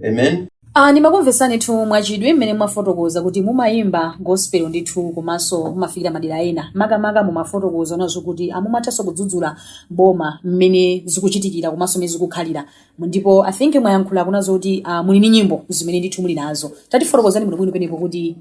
amen Ah, ndimakumvetsani ndithu mwachidwi mmene mwafotokoza kuti mumayimba gospel ndithu komanso mumafikira madera ena makamaka mumafotokozanazo kuti mumathanso kudzudzula boma mmene zikuchitikira komanso mmene zikukhalira ndipo i think mwayankhulakonso kuti ah, muli ndi nyimbo zimene ndithu muli nazo tatifotokozani bwinobwino penepo kuti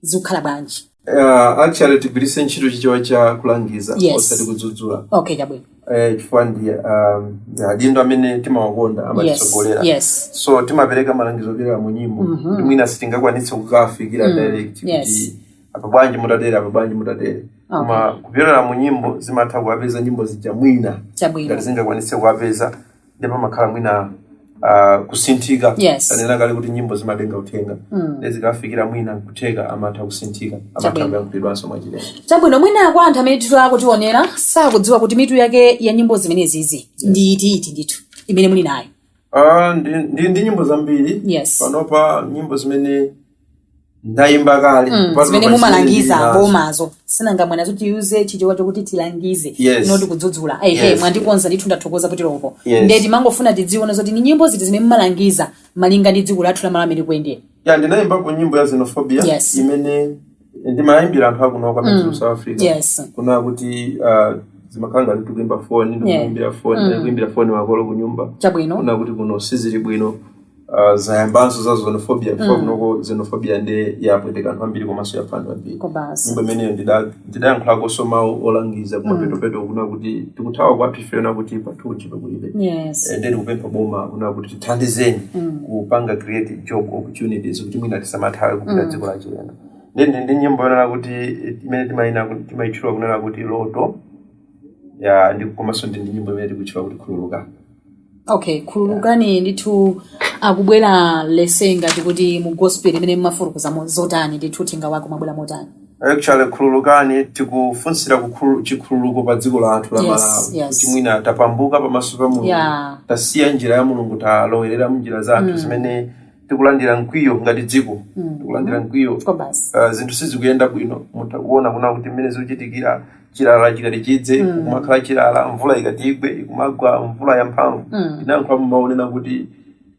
zikukhala bwanji Uh, actually tigwiritse ntchito chichewa cha kulangiza Yes. osati kudzudzula okay chabwino eh, chifukwa ndi um, adindo amene timawakonda yes amatitsogolera yes so timapereka malangizo opyolera mu nyimbo Mhm. ndi mwina sitingakwanitse kukafikira Mm, direct yes. kuti apa bwanji mutatere apa bwanji mutatere okay koma kupyolera mu nyimbo zimatha kuwapeza nyimbo zija mwina chabwino ngati zingakwanitse kuwapeza ndipo pamakhala mwina uh, kusinthika Yes. tanena kale kuti nyimbo zimatenga uthenga mm. zikafikira mwina kutheka amatha kusinthika amatha Chabwino. kuyankhulidwanso mwachilendo chabwino mwina kwa anthu amene ndithu akutiwonera sakudziwa kuti mitu yake ya nyimbo zimenezizi ndi iti iti ndithu imene muli nayo Ah, ndi, ndili ndi nyimbo zambiri Yes. panopa nyimbo zimene ndayimba kale Mm, Pazino zimene pa mumalangiza chimene ndinazo. bomazo si nanga mwanena zoti tiyuze chichewa chokuti tilangize Yes. noti kudzudzula ehe Yes. mwandikonza ndithu ndathokoza kuti loko Yes. ndiye timangofuna tidziwe zoti ni nyimbo ziti zimene mumalangiza malinga ndi dziko lathu la malawi mmene kuyendera ya ndinayimbako nyimbo ya xenophobia Yes. imene ndimayimbira anthu akuno kwa mm. south africa yes kunena kuti uh, zimakhala ngati tikuimba foni Yeah. ndikuimbira foni ndikuimbira foni makolo kunyumba chabwino kunena kuti kuno sizili bwino uh, zayambanso za xenophobia chifukwa mm. kunoko xenophobia nde yapweteka anthu ambiri komanso yapha anthu ambiri kwabasi nyimbo imeneyo ndida- ndidayankhulakonso mawu olangiza kumapetopeto kunena kuti tikuthawa kwathu ife kunena kuti kwathu ntchito kulibe yes Eh, nde tikupempha boma kunena kuti tithandizeni kupanga create job opportunities kuti mwina tisamathawe kupita dziko la chilendo nde ndi- ndi nyimbo yonena kuti eh, imene timayina ku- timayitchula kunena kuti loto ya ndi komanso ndili ndi nyimbo imene tikutchula kuti khululuka okay khululukani ndithu akubwera lese ngati kuti mu gospel imene mumafotokoza mo- zotani ndithu uthenga wake umabwera motani actually khululukani tikufunsira kukhulu- chikhululuko pa dziko lathu la Yes, malawi yes. kuti mwina tapatuka pamaso pa mulungu Yeah. tasiya njira ya mulungu talowerera mnjira zathu zimene tikulandira mkwiyo ngati dziko mm. tikulandira mkwiyo uh, zinthu sizikuyenda bwino mutha kuona kunena kuti mmene zikuchitikira chilala chikati chidze mm. kumakhala chilala mvula ikati igwe ikumagwa mvula yamphamvu mm. ndinayankhulapo mawu onena kuti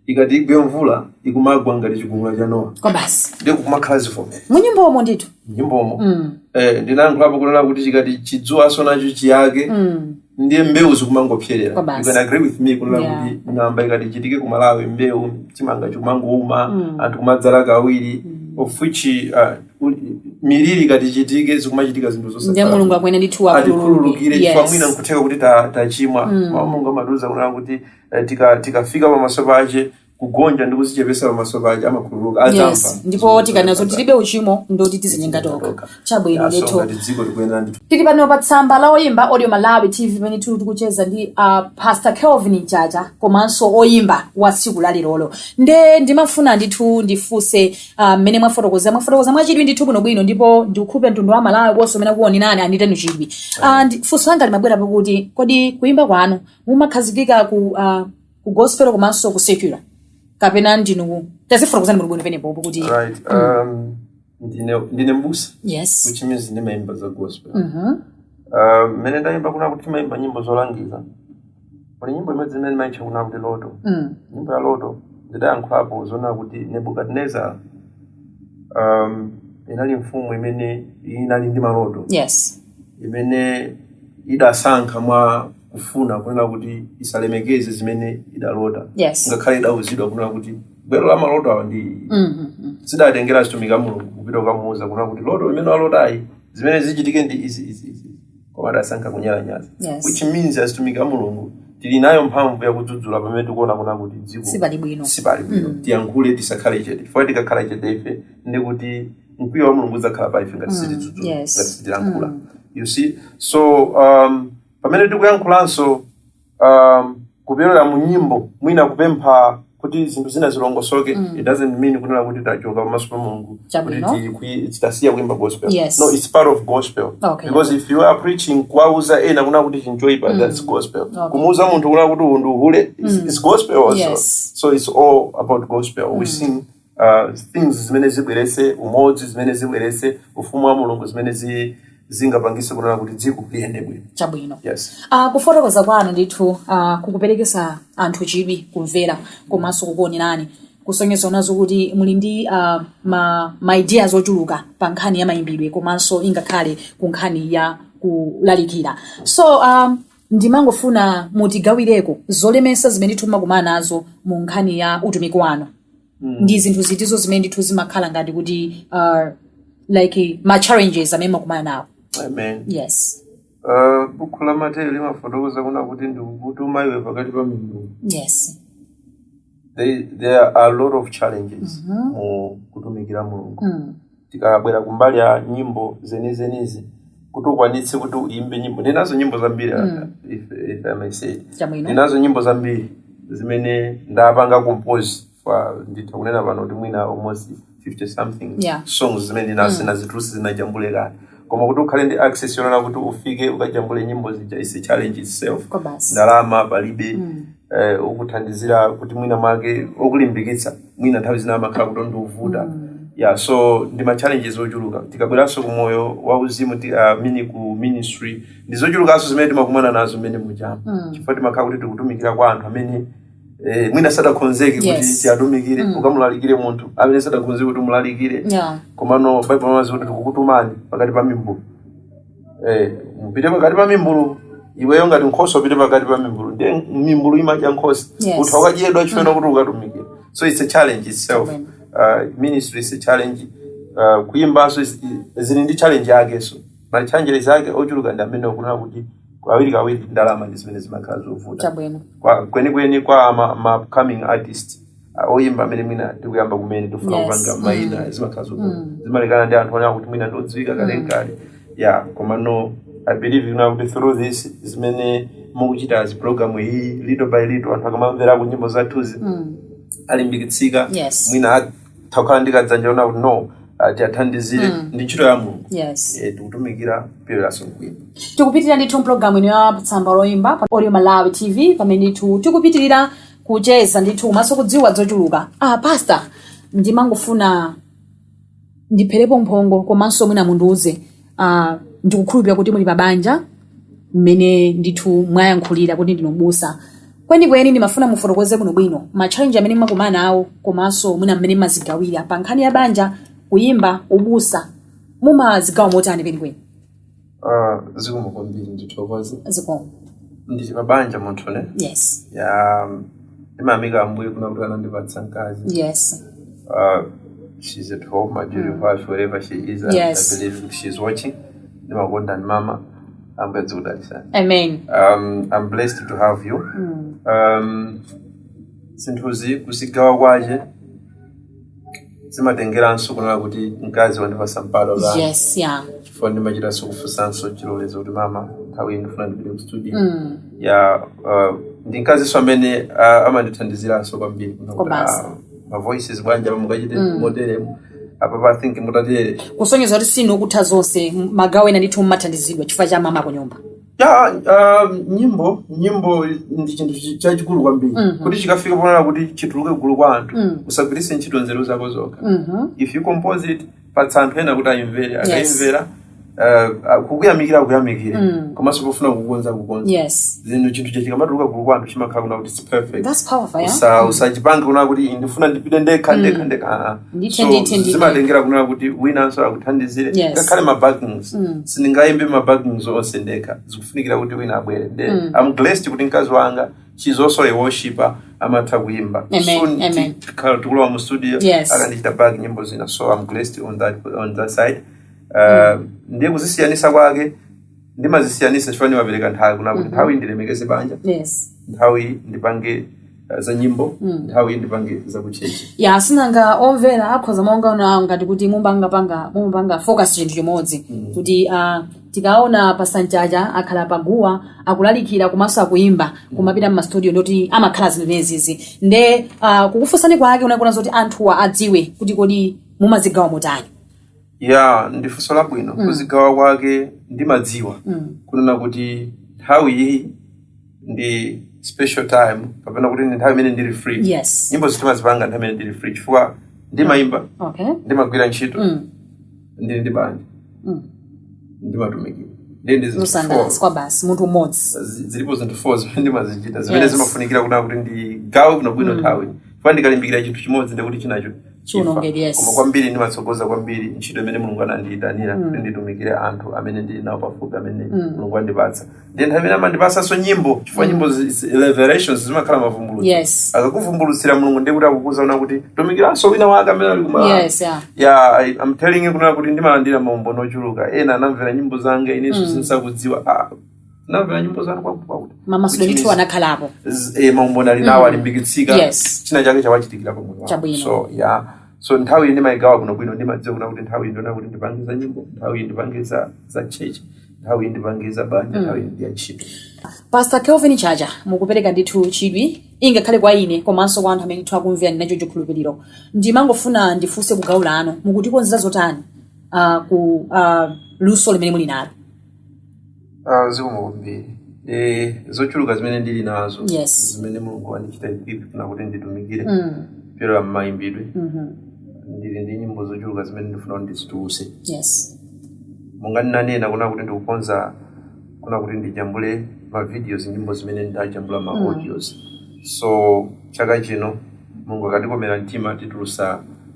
ikati igwe mvula ikumagwa ngati chigumula cha nowa kwabasi ndi kumakhala zivomerezi munyimbomo ndithu nyimbomo mm. eh, ndinayankhulapo kunena kuti chikati chidzuwanso nacho chiyake mm. ndiye mbewu zikumangopserera Kwabasi. you can agree with me kunena Yeah. kuti ng'amba ikati ichitike ku malawi mbewu chimanga chikumangouma Mm. anthu kumadzala kawiri of which uh, u- miliri ikati ichitike zikumachitika zinthu zonse ndiye mulungu akuyenera ndithu atikhululukire akhululukire chifukwa mwina nkutheka kuti ta- tachimwa mawu mulungu amatiuza kunena kuti eh, tika- tikafika pamaso pace kugonja ndi kuzichepesa pamaso pake amakhululuka adzamva yes ndipo tikanena zoti tilibe uchimo ndi kuti tizinyenga tokha chabwino ndithu asonga ndi dziko tikuyenera ndithu tili pano pa tsamba la oyimba audio malawi tv pamene tili tikucheza ndi uh, pastor kelvin mchacha komanso oyimba wa tsiku la lerolo nde ndimafuna ndithu ndifunse ah, mmene uh, mwafotokoza mwafotokoza mwachidwi ndithu bwinobwino ndipo ndikhulupirira mtundu wa malawi onse umene ukuonerani achita chidwi uh, ndi- funso langa limabwera pakuti kodi kuyimba kwanu mumakhazikika ku uh, ku gospel komanso ku secular kapena ndinu tatifotokozerani bwinobwino penepopo kuti right um, ndine ndine mbusa yes which means ndimayimba za gospel Mhm. Uh, mmene ndayimba kunena kuti timayimba nyimbo zolangiza kuli nyimbo imodzi imene ndimayitcha kunena kuti loto Mm. nyimbo ya loto ndidayankhulapo zonena kuti nebukadinezara um, inali mfumu imene inali ndi maloto yes imene idasankha mwa kufuna kunena kuti isalemekeze zimene idalota Yes. ngakhale idauzidwa kunena kuti gwero la maloto awa ndi zidatengera azitumiki a mulungu kupita kukamuuza kunena kuti loto limene walotali zimene zichitike ndi izi izi izi koma adasankha kunyalanyaza Yes. which means azitumiki a mulungu tili nayo mphamvu yakudzudzula pamene tikuona kunena kuti dziko Sipali bwino. sipali bwino tiyankhule tisakhale chete chifukwa tikakhala chete ife ndi kuti mkwiyo wa mulungu udzakhala pa ife ngati sitidzudzula Yes. ngati sitilankhula you see so um, pamene tikuyankhulanso um, kupyolera mu nyimbo mwina kupempha kuti zinthu zina zilongosoke Mm. it doesn't mean kunena kuti tachoka pamaso pa mulungu kuti Chabwino. tikwi- titasiya kuimba gospel Yes. no it's part of gospel Okay. because if you are preaching kuwauza ena kunena kuti ichi nchoipa Mm. that's gospel Okay. kumuuza munthu kunena kuti uwu ndi uhule it's, Mm. it's gospel also Yes. so it's all about gospel we Mm. sing uh, things zimene zibweretse umodzi zimene zibweretse ufumu wa mulungu zimene zi, zingapangise kunena kuti dziko liyende bwino chabwino yes uh, kufotokoza kwanu ndithu uh, kukuperekesa anthu chidwi kumvera komanso kukuonerani kusonyeza kunena zoti muli ndi uh, ma, ma ideas ochuluka pa nkhani ya mayimbidwe komanso ingakhale ku nkhani ya kulalikira so um, Ndimangofuna mutigawireko zolemetsa zimene ndithu mmakumana nazo mu nkhani ya utumiki wanu. Ndi zinthu zitizo zimene ndithu zimakhala ngati kuti uh, like ma challenges amene mmakumana nawo. amen Yes. Ah, buku la mateyu limafotokoza kunena kuti ndikukutuma iwe pakati pa mimbulu Yes. there, there are a lot of challenges mu kutumikira mulungu Mm. tikabwera kumbali ya nyimbo zenizenizi kuti ukwanitse kuti uyimbe nyimbo ndinazo nyimbo zambiri mm. if, if I may say ndinazo nyimbo zambiri zimene ndapanga compose nditha kunena pano kuti mwina almost 50 something yeah. songs zimene ndisanazi mm. tulutse sindinajambule kale koma kuti ukhale ndi access yonena kuti ufike ukajambule nyimbo zija is a challenge itself ndalama palibe mm. eh, okuthandizira kuti mwina mwake okulimbikitsa mwina nthawi zina amakhala kuti ndi ovuta yeah so ndi ma challenges ochuluka tikabweranso ku moyo wauzimu ti- ah, mini ku ministry ndi zochulukanso zimene timakumana nazo mmene mujamo chifukwa timakhala kuti tikutumikira kwa anthu amene eh, mwina sadakhonzeke kuti Yes. tiatumikire ukamulalikire munthu amene sadakhonzeke kuti umulalikire Yeah. komano baibulo limati kuti tikukutumani pakati pa mimbulu Eh, mupite pakati pa mimbulu iweyo ngati nkhosa upite pakati pa mimbulu ndiye mimbulu imadya nkhosa Yes. utha kukadyedwa chifukwa chonena kuti ukatumikira so it's a challenge itself Amen. uh, ministry is a challenge uh, kuyimbanso is- i- zili ndi challenge yakenso ma challenges ake ochuluka ndi amene ndikunena kuti kawiri kawiri ndalama ndi zimene zimakhala zovuta kwenikweni kwa ma, ma upcoming artist ah, oyimba amene mwina tikuyamba kumene tifuna Yes. kupanga maina Mm. zimakhala zo- Mm. zimalekana ndi anthu onena kuti mwina ndodziwika kale Mm. nkale ya komano i believe you know kuti through this zimene mukuchitazi program iyi little by little anthu akamamverako nyimbo zathuzi Mm. alimbikitsika Yes. mwina atha kukhala ndi kadzanja konena kuti no tiathandizire Mm. ndi ntchito ya mulungu Yes. Eh, tikutumikira pakuyimba tikupitirira ndithu mpulogalamu ino ya tsamba loyimba pa audio malawi tv pamene ndithu tikupitirira kucheza ndithu komanso kudziwa zochuluka ah pastor ndimangofuna ndipherepo mphongo komanso mwina mundiuze ah, ndikukhulupirira kuti muli pabanja mmene ndithu mwayankhulira kuti ndinu mbusa kwenikweni ndimafuna mufotokoze bwinobwino matchalenji amene mmakumana nawo komanso mwina mmene mumazigawira pa nkhani ya banja kuyimba ubusa mumazigawa motani kwenikweni Ah, zikomo kwambiri ndithokoze zikomo ndili pa banja munthu ne yes ya ndimayamika ambuye kunena kuti anandipatsa mkazi yes uh, she's at home my beautiful wife wherever she is I- Yes. i believe kuti she's watching ndimakukondani mama ambuye azikudalitsani amen um, i'm blessed to have you um, zinthuzi kuzigawa kwache zimatengeranso kunena kuti mkazi wandipatsa mpata kuti yes yeah chifukwa ndimachitanso kufunsanso chilolezo kuti mama nthawi iyi ndifuna ndipite ku studio Mm. ya uh, ndi mkazinso amene uh, amandithandiziranso kwambiri ah, ma voices bwanji apa mukachite moteremu apapa i think mutatere kusonyeza kuti si inu okutha zonse magawo ena ndithu mumathandizidwa chifukwa cha mama kunyumba ya uh, nyimbo nyimbo ndi chinthu chi- chachikulu kwambiri Mhm. kuti chikafika ponena kuti chituluke gulu kwa anthu Mm. usagwiritse ntchito nzeru zako zokha Mhm. if you compose it patsa anthu ena kuti ayimvere akayimvera uh, kukuyamikira akuyamikire Mm. komanso pofuna kukonza kukonza yes zinthu chinthu chikamatuluka gulu kwa anthu chimakhala kuna kuti Perfect. That's powerful, yeah? Usa- usachipange kunena kuti ndifuna ndipite ndekha ndekha ndekha ah, ah. Ndithe, So, ndithe, ndithe. zimatengera kunena kuti winanso akuthandizire Yes. ngakhale mabackings sindingayimbe mabackings onse ndekha zikufunikira kuti wina abwere nde am blessed kuti mkazi wanga she's also a worshiper amatha kuyimba Amen, amen. ti- tikhala tikulowa mu studio Yes. akandichita back nyimbo zina so am blessed on that, on that side uh, ndiye kuzisiyanisa kwake ndimazisiyanisa chifukwa ndimapereka nthawi kuna kuti nthawi ndilemekeze banja yes nthawi ndipange eh, za nyimbo nthawi ndipange za kuchechi ya sinanga omvera akhoza kumangoona ngati kuti mumangopanga mumapanga focus chinthu chimodzi kuti ah, tikaona pasanjaja akhala paguwa akulalikira komanso akuimba kumapita mmastudio ndoti amakhala zimenezizi nde ah, kukufunsani kwake kunali kuona zoti anthuwa adziwe kuti kodi mumazigawa motani ya ndi funso labwino Mm. kuzigawa kwake ndimadziwa Mm. kunena kuti nthawi iyi ndi special time kapena kuti ndi nthawi imene ndili free Yes. nyimbo ndimazipanga nthawi imene ndili free chifukwa ndimayimba Okay. ndimagwira ntchito Mm. ndili ndi banja Mm. ndimatumikira nde ndi zinthu four Zosangalatsa kwa basi munthu mmodzi. zi- zilipo zinthu four zimene ndimazichita zimene Yes. zimafunikira kunena kuti ndigawe bwinobwino nthawi chifukwa ndikalimbikira chinthu chimodzi ndikuti chinacho chiwonongeke yes koma kwambiri ndimatsogoza kwambiri ntchito imene mulungu anandiyitanira kuti nditumikire anthu amene ndili nawo pafupi amene mulungu andipatsa ndi nthawi imene amandipatsanso nyimbo chifukwa nyimbo zi- zi- revelations zimakhala mavumbulutso Yes. akakuvumbulutsira mulungu ndiye kuti akukuuza kuna kuti tumikiranso wina wake amene ali kumala yes yeah. ya I- I'm telling you kunena kuti ndimalandira maumboni ochuluka ena anamvera nyimbo zanga inenso ndisakudziwa ah, ndamvera nyimbo zanu kwakuti kwakuti mamasulidwe ndithu anakhalapo Z- eh, maumboni ali nawo alimbikitsika Yes. china chake chawachitikira pa moyo wawo. Chabwino. so yeah so nthawi iyi ndimayigawa bwinobwino ndimadziwa kuna kuti nthawi iyi ndiyonena kuti ndipange za nyimbo nthawi iyi ndipange za za chechi nthawi iyi ndipange za banja nthawi iyi ndiya ntchito pastor kelvin chacha mukupereka ndithu chidwi ingakhale kwa ine komanso kwa anthu amene ndithu akumvera ndinacho chikhulupiriro ndimangofuna ndifunse kugawo lino mukutikonzera zotani uh, ku uh, luso limene muli nalo Ah, zikomo kwambiri Eh, zochuluka zimene ndili nazo Yes. zimene mulungu wandichita equip kuna kuti nditumikire Mm. kupyolera mmayimbidwe Mhm. ndili ndi nyimbo zochuluka zimene ndifuna kuti ndizituluse Yes. monga ndinanena kuna kuti ndikukonza kuna kuti ndijambule mavideos nyimbo zimene ndajambula ma audios so chaka chino mulungu akandikomera mtima titulusa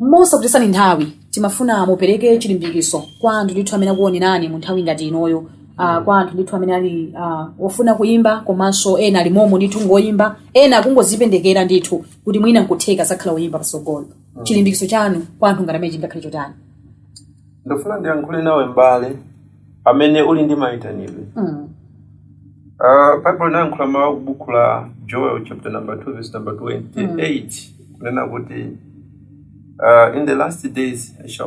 mosakutayitsani nthawi timafuna mupereke chilimbikiso kwa anthu ndithu amene akuonerani mu nthawi ngati inoyo uh, kwa anthu ndithu amene ali uh, ofuna kuyimba komanso ena ali momo ndithu ngoyimba ena akungozipenekera ndithu kuti mwina nkutheka azakhala oyimba pasogolo mm. chilimbikiso chanu kwa anthu ngati amenewa chingakhale chotani ndifuna ndiyankhule nawe mbale amene uli ndi mayitanidwe Mm. Ah, Bible inayankhula mawu aku buku la joel chapter number 2 verse number 28 kunena kuti ah, in the last days I shall